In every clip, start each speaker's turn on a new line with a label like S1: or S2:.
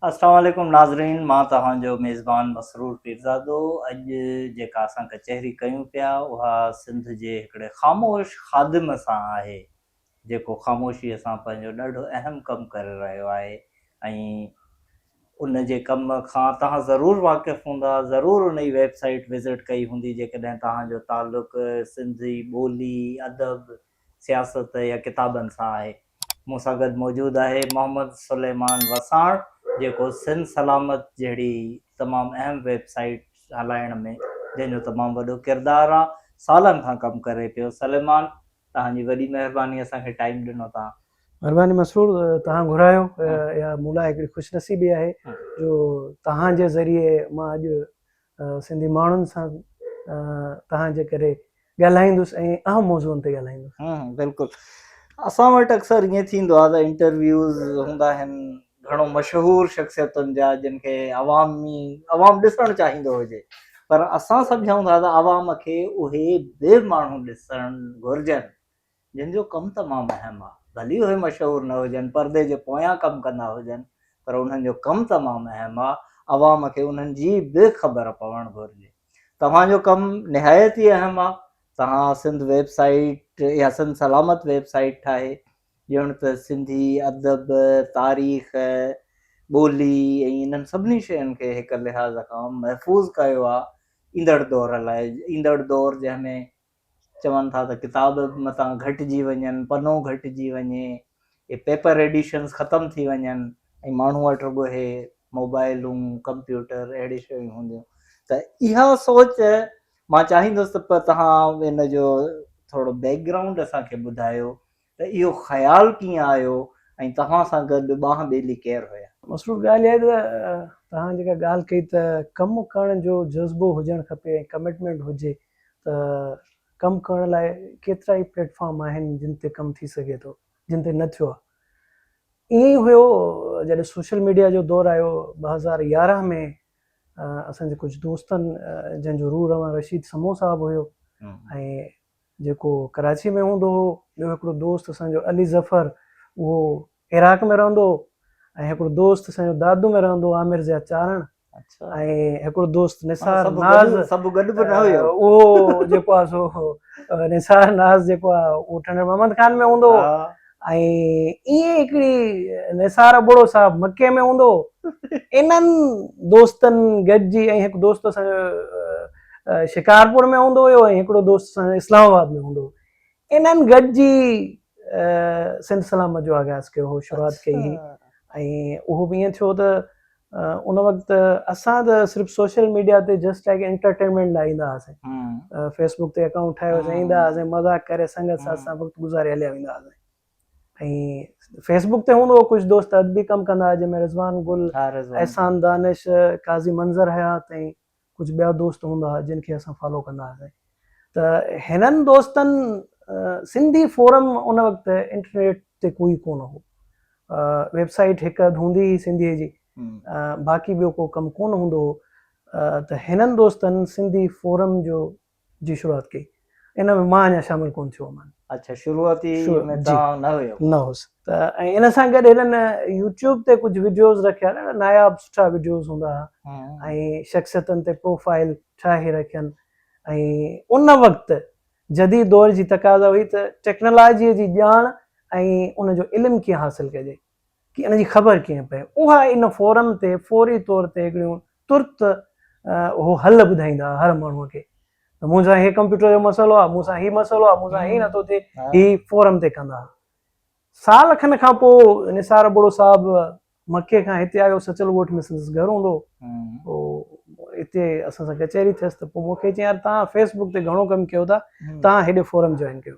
S1: السلام عليڪم ناظرين مان توهان جو ميزبان مسرور پيرزادو اڄ جيڪا اسان ڪچهري ڪيون پيا اها سنڌ جي هڪڙي خاموش خادم سان آهي جيڪو خاموشي سان پنهنجو ڏاڍو اهم ڪم ڪري رهيو آهي ۽ ان جي ڪم کان توهان ضرور واقف هوندا ضرور ان جي ويب سائيٽ وزٽ ڪئي هوندي جيڪڏهن توهان جو تعلق سنڌي ٻولي ادب سياست يا ڪتابن سان آهي. مون سان گڏ موجود آهي محمد سليمان وساڻ جيڪو سنڌ سلامت جهڙي تمام اهم ويب سائيٽ هلائڻ ۾ جنهن جو تمام وڏو ڪردار آ سالن کان ڪم ڪري پيو سليمان توهان جي وڏي مهرباني اسان کي ٽائيم ڏنو توهان. مھرباني مسرور
S2: توھان گھرايو اھا مون لاء ھڪڙي خوش نصيبي آھي جو توھان جي ذريعي مان اڄ سنڌي ماڻهن سان توهان جي ڪري ڳالهائيندس ۽ اهم موضوعن تي ڳالهائيندس بلڪل
S1: اسان وٽ اڪثر ائين ٿيندو آهي ته انٽرويوز هوندا آهن گهڻو مشهور شخصيتن جا جن کي عوامي عوام ڏسڻ چاهيندو هجي پر اسان سمجهون ٿا ته عوام کي اهي به ماڻهو ڏسڻ گهرجن جن جو ڪم تمام اهم آ. ڀلي اهي مشهور نه هجن، پردي جي پويان ڪم ڪندا هجن، پر انهن جو ڪم تمام اهم آ. عوام کي انهن جي به خبر پوڻ گهرجي. توهان جو ڪم نهايت ئي اهم آ. توهان سنڌ ويب سائيٽ يا سنڌ سلامت ويب سائيٽ ٺاهي، ڄڻ ته سنڌي ادب، تاريخ، ٻولي ۽ انهن سڀني شين کي هڪ لحاظ کان محفوظ ڪيو آ. ايندڙ دور لاء، ايندڙ دور جنهن ۾ چون ٿا ته ڪتاب متان گهٽجي وڃن، پنو گهٽجي وڃي، اهي پيپر ايڊيشنز ختم ٿي وڃن ۽ ماڻهو وٽ رڳو اهي موبائلون، ڪمپيوٽر اهڙي شيون هونديون ته اها سوچ مان چاهيندس ته توهان ان جو ٿورڙو بيڪ گرائونڊ اسان کي ٻڌايو ته اهو خيال ڪيئن آيو ۽ توهان سان گڏ ٻانهن ٻيلي ڪير هيا؟ مصروف ڳالهه اها آهي ته
S2: توهان جيڪا ڳالهه ڪئي ته ڪم ڪرڻ جو جذبو هجڻ کپي ۽ ڪمٽمينٽ هجي ته ڪم ڪرڻ لاء ڪيترا ئي پليٽ فارم آهن جن تي ڪم ٿي سگهي ٿو جن تي نه ٿيو آهي ائين ئي هيو جڏهن سوشل ميڊيا جو دور آيو ٻه هزار يارهن ۾ اسان جي ڪجهه دوستن جن جو روح روان رشيد سمون صاحب هيو ۽ جيڪو ڪراچيء ۾ هوندو هو، ٻيو هڪڙو دوست اسان جو علي ظفر، اهو عراق ۾ رهندو هو ۽ هڪڙو دوست اسان جو دادو ۾ رهندو هو، عامر ضياء چارڻ ۽ هڪڙو دوست نثار ناز،
S1: اهو جيڪو آهي
S2: سو نثار ناز جيڪو آهي اهو ٺنڊڙ محمد خان ۾ هوندو هو. ۽ ائين هڪ ڏينهن نثار ابڙو صاحب مڪي ۾ هوندو انهن دوستن گڏجي ۽ هڪ دوست اسان جو شڪارپور ۾ هوندو هيو ۽ هڪڙو دوست اسان جو اسلام آباد ۾ هوندو انهن گڏجي سنڌ سلامت جو آغاز ڪيو هو شروعات ڪئي هئي ۽ اهو به ائين ٿيو ته ان وقت اسان ته صرف سوشل ميڊيا تي جسٽ لائڪ انٽرٽينمينٽ لاء ايندا هئاسين فيس بڪ تي اڪائونٽ ٺاهي ويسين ايندا هئاسين مذاق ڪري سنگت سان اسان وقت گذاري هليا ويندا هئاسين ۽ فيس بڪ تي هوندو هو ڪجهه دوست ادبي ڪم ڪندا هئا جنهن ۾ رضوان گل احسان دانش قاضي منظر حيات ۽ ڪجهه ٻيا دوست هوندا ها جن کي اسان فالو ڪندا هئاسين ته هنن دوستن سنڌي فورم ان وقت انٽرنيٽ تي ڪوئي ڪونه هو ويب سائيٽ هڪ اڌ هوندي هئي سنڌي جي باقي ٻيو ڪو ڪم ڪونه هوندو هو ته هنن دوستن سنڌي فورم جو جي شروعات ڪئي ان ۾ مان اڃا شامل ڪون ٿيو هئم. اڇا شروعاتي
S1: ۾ توهان نه هيو. نه هوس
S2: ته ۽ ان سان گڏ هنن يوٽيوب تي ڪجهه وڊيوز رکيا ڏاڍا ناياب سٺا وڊيوز هوندا ها ۽ شخصيتن تي پروفائل ٺاهي رکين ۽ ان وقت جديد دور جي تقاضا هئي ته ٽيڪنالاجي جي ڄاڻ ۽ ان جو علم ڪيئن حاصل ڪجي ڪي ان جي خبر ڪيئن پئي اها ان فورم تي فوري طور تي هڪڙيون ترت اهو حل ٻڌائيندا هر ماڻهو کي ته مون سان هي ڪمپيوٽر جو مسئلو آهي مون سان هي مسئلو آهي مون سان هي نٿو ٿئي هي فورم تي ڪندا سال کن کان پو نثار ابڙو صاحب مکي کان هتي آيو سچل ڳوٺ ۾ سندس گهر هوندو پو هتي اسان سان ڪچهري ٿيس ته پو مونکي چيائين يار تان فيسبوڪ تي گهڻو ڪم ڪيو ٿا تان هيڏي فورم جوائن ڪيو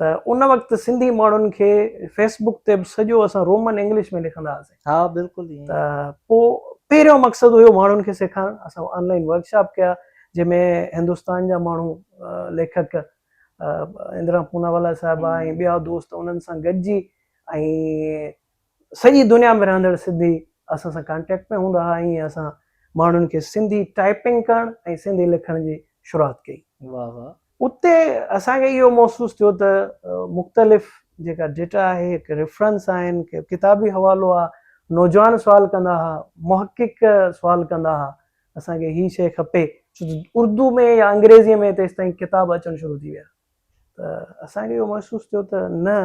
S2: ته ان وقت سنڌي ماڻهن کي فيس بڪ تي به سڄو اسان رومن انگلش ۾ لکندا هئاسين ها بلڪل ائين ته
S1: پوء
S2: پهريون مقصد هيو ماڻهن کي سيکارڻ اسان آن لائين ورڪ شاپ ڪيا جنهن ۾ هندستان جا ماڻهو ليکڪ اندرا پوناوالا صاحبه ۽ ٻيا دوست انهن سان گڏجي ۽ سڄي دنيا ۾ رهندڙ سنڌي اسان سان ڪانٽيڪٽ ۾ هوندا هئا ائين اسان ماڻهن کي سنڌي ٽائپنگ ڪرڻ ۽ سنڌي لکڻ جي شروعات ڪئي. واهه واهه.
S1: اتي اسان
S2: کي اهو محسوس ٿيو ته مختلف جيڪا ڊيٽا آهي، ڪي ريفرنس آهن، ڪي ڪتابي حوالو آ، نوجوان سوال ڪندا هئا، محقق سوال ڪندا هئا، اسان کي هي شيء کپي. ڇو ته اردو ۾ يا انگريزيء ۾ تيستائين ڪتاب اچڻ شروع ٿي ويا ته اسان کي اهو محسوس ٿيو ته نه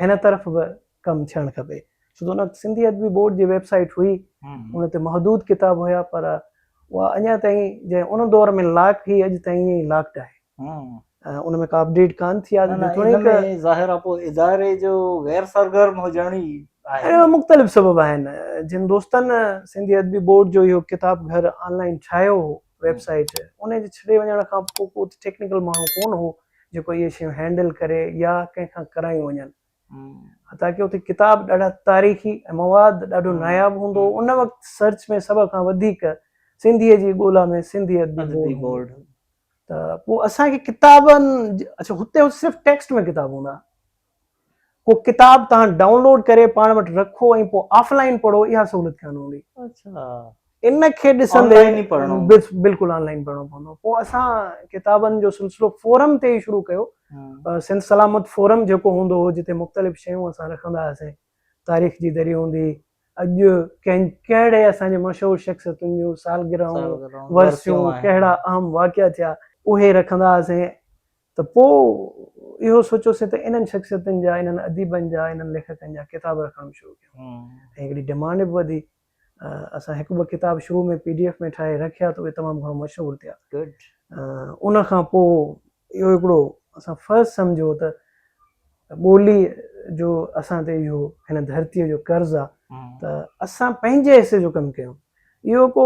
S2: هن طرف به ڪم ٿيڻ کپي ڇو ته ان وقت سنڌي ادبي بورڊ جي ويب سائيٽ هئي ان تي محدود ڪتاب هيا پر اها اڃا تائين جنهن ان دور ۾ لاڪ هئي اڄ تائين ائين ئي لاڪڊ آهي ان ۾ ڪا اپڊيٽ ڪان ٿي آهي جيتوڻيڪ ظاهر آهي پوء
S1: اداري جو غير سرگرم هجڻ ئي آهي اهڙا مختلف سبب آهن
S2: جن دوستن سنڌي ادبي بورڊ جو اهو ڪتاب گهر آن لائن ٺاهيو هو ويب سائيٽ ان جي ڇڏي وڃڻ کان پوء ڪو اتي ٽيڪنيڪل ماڻهو ڪونه هو جيڪو اهي شيون هينڊل ڪري يا ڪنهن کان ڪرايون وڃن حتيٰ ڪي اتي ڪتاب ڏاڍا تاريخي ۽ مواد ڏاڍو ناياب هوندو هو ان وقت سرچ ۾ سڀ کان وڌيڪ سنڌيء جي ڳولا ۾ سنڌي ادبي بورڊ ته پوء اسان کي ڪتابن اڇا هتي صرف ٽيڪسٽ ۾ ڪتاب هوندا ڪو ڪتاب توهان ڊائون لوڊ ڪري پاڻ وٽ رکو ۽ پوء آف لائن پڙهو اها سهولت ڪانه هوندي.
S1: اچا. ان کي
S2: ڏسندي بلڪل آن لائن پڙهڻو پوندو. پوء اسان ڪتابن جو سلسلو فورم تي ئي شروع ڪيو. سنڌ سلامت فورم جيڪو هوندو هو جتي مختلف شيون اسان رکندا هئاسين. تاريخ جي دري هوندي، اڄ ڪنهن ڪهڙي اسان جي مشهور شخصيتن جون سالگرهون، ورسيون، ڪهڙا اهم واقعا ٿيا. اهي رکندا هئاسين ته پوء اهو سوچيوسين ته انهن شخصيتن جا، انهن اديبن جا، انهن ليکڪن جا ڪتاب رکڻ به شروع ڪيون ۽ هڪڙي ڊمانڊ به وڌي. اسان هڪ ٻه ڪتاب شروع ۾ پي ڊي ايف ۾ ٺاهي رکيا ته اهي تمام گهڻو مشهور ٿيا. ان کان پوء اهو هڪڙو اسان فرض سمجهيو ته ٻوليء جو اسان تي اهو هن ڌرتيء جو قرض آ ته اسان پنهنجي حصي جو ڪم ڪيون. اهو ڪو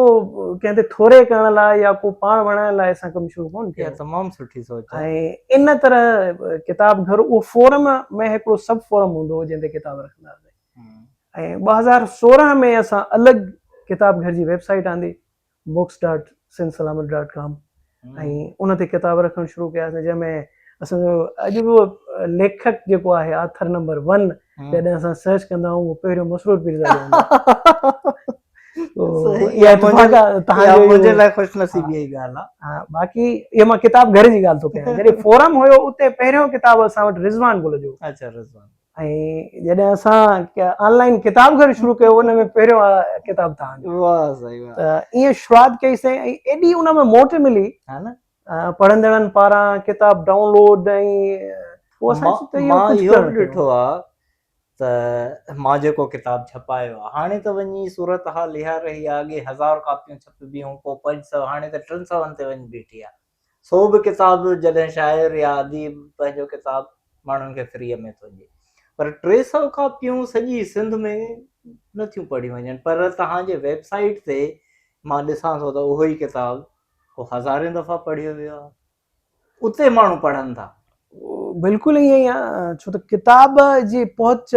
S2: ڪنهن تي ٿوري ڪرڻ لاء يا ڪو پاڻ وڻائڻ لاء اسان ڪم شروع ڪون ڪيو. اها تمام سٺي سوچ آهي.
S1: ۽ ان طرح
S2: ڪتاب گهر اهو فورم ۾ هڪڙو سب فورم هوندو هو جنهن تي ڪتاب رکندا هئاسين. ۽ ٻه هزار سورهن ۾ اسان الڳ ڪتاب گهر جي ويب سائيٽ آندي Books dot Sindh Salamat dot com ۽ ان تي ڪتاب رکڻ شروع ڪياسين جنهن ۾ اسان جو اڄ به ليکڪ جيڪو آهي آٿر نمبر ون جڏهن اسان سرچ ڪندا آهيون اهو پهريون مسرور پيرزادو
S1: منهنجي لاء خوش نصيبي جي ڳالهه آهي باقي
S2: اهو مان ڪتاب گهر جي ڳالهه ٿو ڪيان جڏهن فورم هيو اتي پهريون ڪتاب اسان وٽ رضوان گل جو اچا رضوان
S1: ۽ جڏهن
S2: اسان آن لائن ڪتاب گهر شروع ڪيو ان ۾ پهريون ڪتاب تان جو واه سائين واه ته
S1: ايئن شروعات ڪئي
S2: سائين ۽ ايڏي ان ۾ موٽ ملي ها نه
S1: پڙهندڙن
S2: پاران ڪتاب ڊائونلوڊ ۽ مان اهو
S1: به ڏٺو آ ته مان جيڪو ڪتاب ڇپايو آ هاڻي ته وڃي صورتحال اها رهي آ اڳي هزار ڪاپيون ڇپبيون هون پوء پنج سؤ هاڻي ته ٽن سوين تي وڃي بيٺي آ سو به ڪتاب جڏهن شاعر يا اديب پنهنجو ڪتاب ماڻهن کي فريء ۾ ٿو ڏئي پر ٽي سؤ ڪاپيون سڄي سنڌ ۾ نه ٿيون پڙهيون وڃن پر توهان جي ويب سائيٽ تي مان ڏسان ٿو ته اهو ئي ڪتاب ڪو هزارين دفعا پڙهيو ويو آهي اتي ماڻهو پڙهن ٿا بلڪل
S2: ائين ئي آهي ڇو ته ڪتاب جي پهچ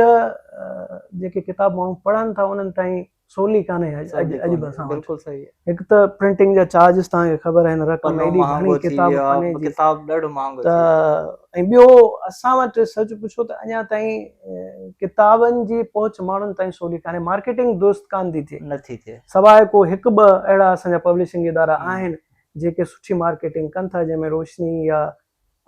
S2: جيڪي ڪتاب ماڻهو پڙهن ٿا انهن تائين سولي ڪانهي اڄ به اسان وٽ هڪ ته
S1: پرنٽنگ جا
S2: چارجز توهان کي خبر آهن رقم ايڏي گهڻي ڪتاب پني جي ڪتاب ڏاڍو مهانگو ته
S1: ۽
S2: ٻيو اسان وٽ سچ پڇو ته اڃا تائين ڪتابن جي پهچ ماڻهن تائين سولي ڪانهي مارڪيٽنگ درست ڪانه ٿي ٿئي نٿي ٿئي سواء ڪو
S1: هڪ ٻه
S2: اهڙا اسان جا پبلشنگ ادارا آهن جيڪي سٺي مارڪيٽنگ ڪن ٿا جنهن ۾ روشني يا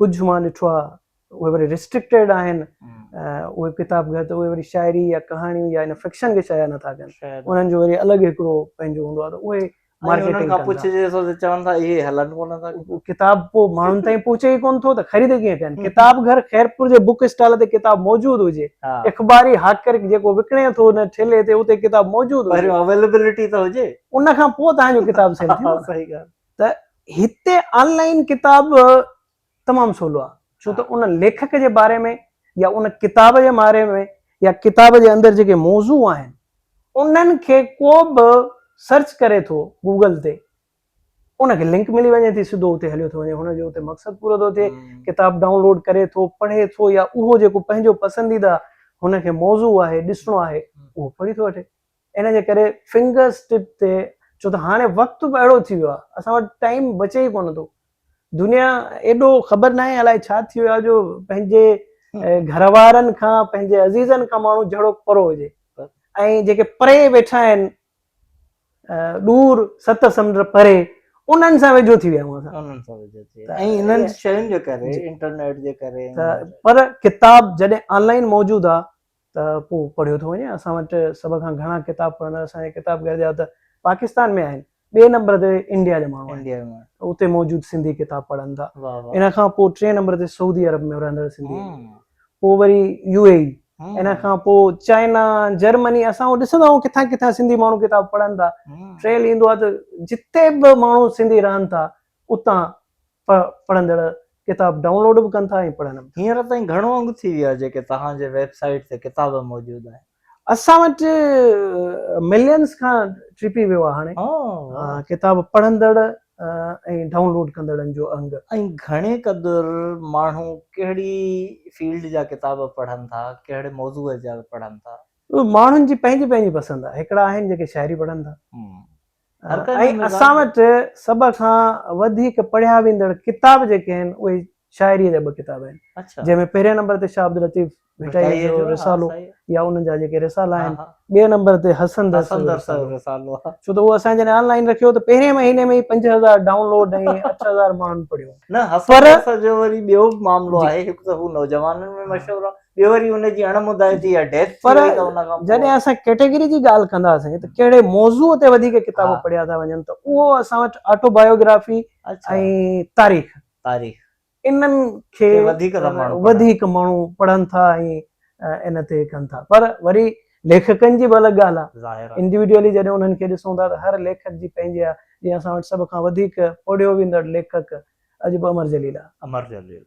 S2: ڪجهه مان ڏٺو آهي اهي وري ريسٽرڪٽيڊ آهن اهي ڪتاب گهر ته اهي وري شاعري يا ڪهاڻيون يا ان فڪشن کي شايع نٿا ڪن انهن جو وري الڳ هڪڙو پنهنجو هوندو آهي ته اهي مارڪيٽنگ کان پڇجي ٿو ته چون
S1: ٿا اهي هلن ڪو نه ٿا ڪتاب پوء ماڻهن
S2: تائين پهچي ئي ڪون ٿو ته خريد ڪيئن ڪن ڪتاب گهر خيرپور جي بوڪ اسٽال تي ڪتاب موجود هجي اخباري هاڪر جيڪو وڪڻي ٿو ان ٺيلي تي اتي ڪتاب موجود هجي اويليبلٽي ته هجي
S1: ان کان پوء تهان
S2: جو ڪتاب سيل ٿيندو صحيح ڳالهه ته
S1: هتي
S2: آنلائن ڪتاب تمام سولو آ ڇو ته ان ليکڪ جي باري ۾ يا ان ڪتاب جي ماري ۾ يا ڪتاب جي اندر جيڪي موضوع آهن انهن کي ڪو به سرچ ڪري ٿو گوگل تي ان کي لنڪ ملي وڃي ٿي سڌو اتي هليو ٿو وڃي هن جو اتي مقصد پورو ٿو ٿئي ڪتاب ڊائونلوڊ ڪري ٿو پڙهي ٿو يا اهو جيڪو پنهنجو پسنديده هن کي موضوع آهي ڏسڻو آهي اهو پڙهي ٿو وٺي ان جي ڪري فنگر اسٽپ تي ڇو ته هاڻي وقت به اهڙو ٿي ويو آهي اسان وٽ ٽائيم بچي ئي ڪونه ٿو دنيا ايڏو خبر ناهي الائي ڇا ٿي ويو آهي جو پنهنجي گهر وارن کان پنهنجي عزيزن کان ماڻهو جهڙو پرو هجي ۽ جيڪي پري ويٺا آهن ڏور ست سمنڊ پري انهن سان ويجهو ٿي ويا آهيون اسان انهن سان ويجهو ٿي ويا
S1: ۽ انهن شين جي ڪري انٽرنيٽ جي ڪري پر
S2: ڪتاب جڏهن آن لائين موجود آهي ته پوء پڙهيو ٿو وڃي. اسان وٽ سڀ کان گهڻا ڪتاب پڙهندڙ اسان جي ڪتاب گهر جا ته پاڪستان ۾ آهن، ٻئي نمبر تي انڊيا جا ماڻهو آهن، اتي موجود
S1: سنڌي
S2: ڪتاب پڙهن ٿا. ان کان پوء
S1: ٽئين نمبر
S2: تي سعودي عرب ۾ رهندڙ سنڌي آهن، پوء وري يو اي اي، ان کان پوء چائنا، جرمني، اسان هو ڏسندا آهيون ڪٿان ڪٿان سنڌي ماڻهو ڪتاب پڙهن ٿا. ٽئين ايندو آهي ته جتي به ماڻهو سنڌي رهن ٿا، اتان پ پڙهندڙ ڪتاب ڊائونلوڊ به ڪن ٿا ۽ پڙهن به ٿا. هينئر تائين گهڻو انگ ٿي
S1: ويو آهي جيڪي توهان جي ويب سائيٽ تي ڪتاب موجود آهن. اسان وٽ
S2: ملينز کان ٽپي ويو آهي هاڻي ڪتاب پڙهندڙ ۽ ڊائونلوڊ ڪندڙن جو انگ. ۽ گهڻي
S1: قدر ماڻهو ڪهڙي فيلڊ جا ڪتاب پڙهن ٿا؟ ڪهڙي موضوع جا پڙهن ٿا؟ ماڻهن جي پنهنجي
S2: پنهنجي پسند آهي. هڪڙا آهن جيڪي شاعري پڙهن ٿا. ۽ اسان وٽ سڀ کان وڌيڪ پڙهيا ويندڙ ڪتاب جيڪي آهن اهي شاعريء جا ٻه ڪتاب آهن جنهن ۾ پهرئين نمبر
S1: تي شاهه
S2: عبداللطيف ڀٽائيء جو رسالو يا انهن جا جيڪي رسالا آهن ٻئي نمبر تي حسن درسي جو رسالو ڇو ته اهو
S1: اسان جڏهن آن
S2: لائين رکيو ته پهرئين مهيني ۾ ئي پنج هزار ڊائون لوڊ ۽ اٺ هزار ماڻهن پڙهيو نه حسن درسي
S1: جو وري ٻيو به معاملو آهي هڪ ته هو نوجوانن ۾ مشهور آهي ٻيو وري ان جي اڻ مدائتي يا ڊيٿ ٿي وئي ته ان کان جڏهن اسان ڪيٽيگري
S2: جي ڳالهه ڪنداسين ته ڪهڙي موضوع تي وڌيڪ ڪتاب پڙهيا ٿا وڃن ته اهو اسان وٽ آٽو بايوگرافي ۽ تاريخ تاريخ انهن کي وڌيڪ وڌيڪ ماڻهو پڙهن ٿا ۽ ان تي ڪن ٿا پر وري ليکڪن جي به الڳ ڳالهه آهي انڊيوڊيولي جڏهن انهن کي ڏسون ٿا ته هر ليکڪ جي پنهنجي آهي جيئن اسان وٽ سڀ کان وڌيڪ پڙهيو ويندڙ ليکڪ اڄ به امر جليل آهي امر جليل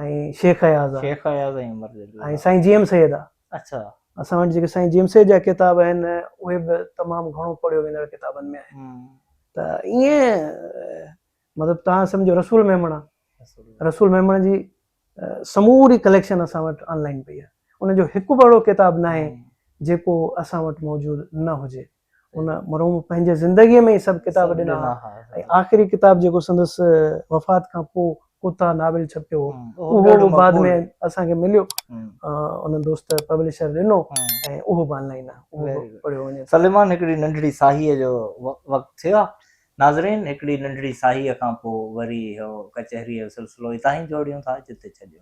S2: ۽ شيخ اياز آ شيخ اياز ۽ عمر جليل ۽ سائين جي ايم سيد آ اڇا اسان وٽ
S1: جيڪي سائين
S2: جي ايم سيد جا ڪتاب آهن اهي به تمام گهڻو پڙهيو ويندڙ ڪتابن ۾ آهن ته ائين مطلب تهان سمجهو رسول ميمڻا رسول ميمڻا جي سموري ڪليڪشن اسان وٽ آن لائين پئي آ ان جو هڪ به اهڙو ڪتاب ناهي جيڪو اسان وٽ موجود نه هجي ان مرحوم پنهنجي زندگيء ۾ ئي سڀ ڪتاب ڏنا ها ۽ آخري ڪتاب جيڪو سندس وفات کان پوء ڪوتا ناول ڇپيو هو اهو به بعد ۾ اسان کي مليو ان دوست پبلشر ڏنو ۽ اهو به آنلائن آهي اهو به پڙهيو وڃي سليمان هڪڙي ننڍڙي
S1: ساهيء جو وقت ٿيو آهي ناظرين هڪڙي ننڍڙي ساهيء کان پوء وري اهو ڪچهريء جو سلسلو هتان ئي جوڙيون ٿا جتي ڇڏيون ٿا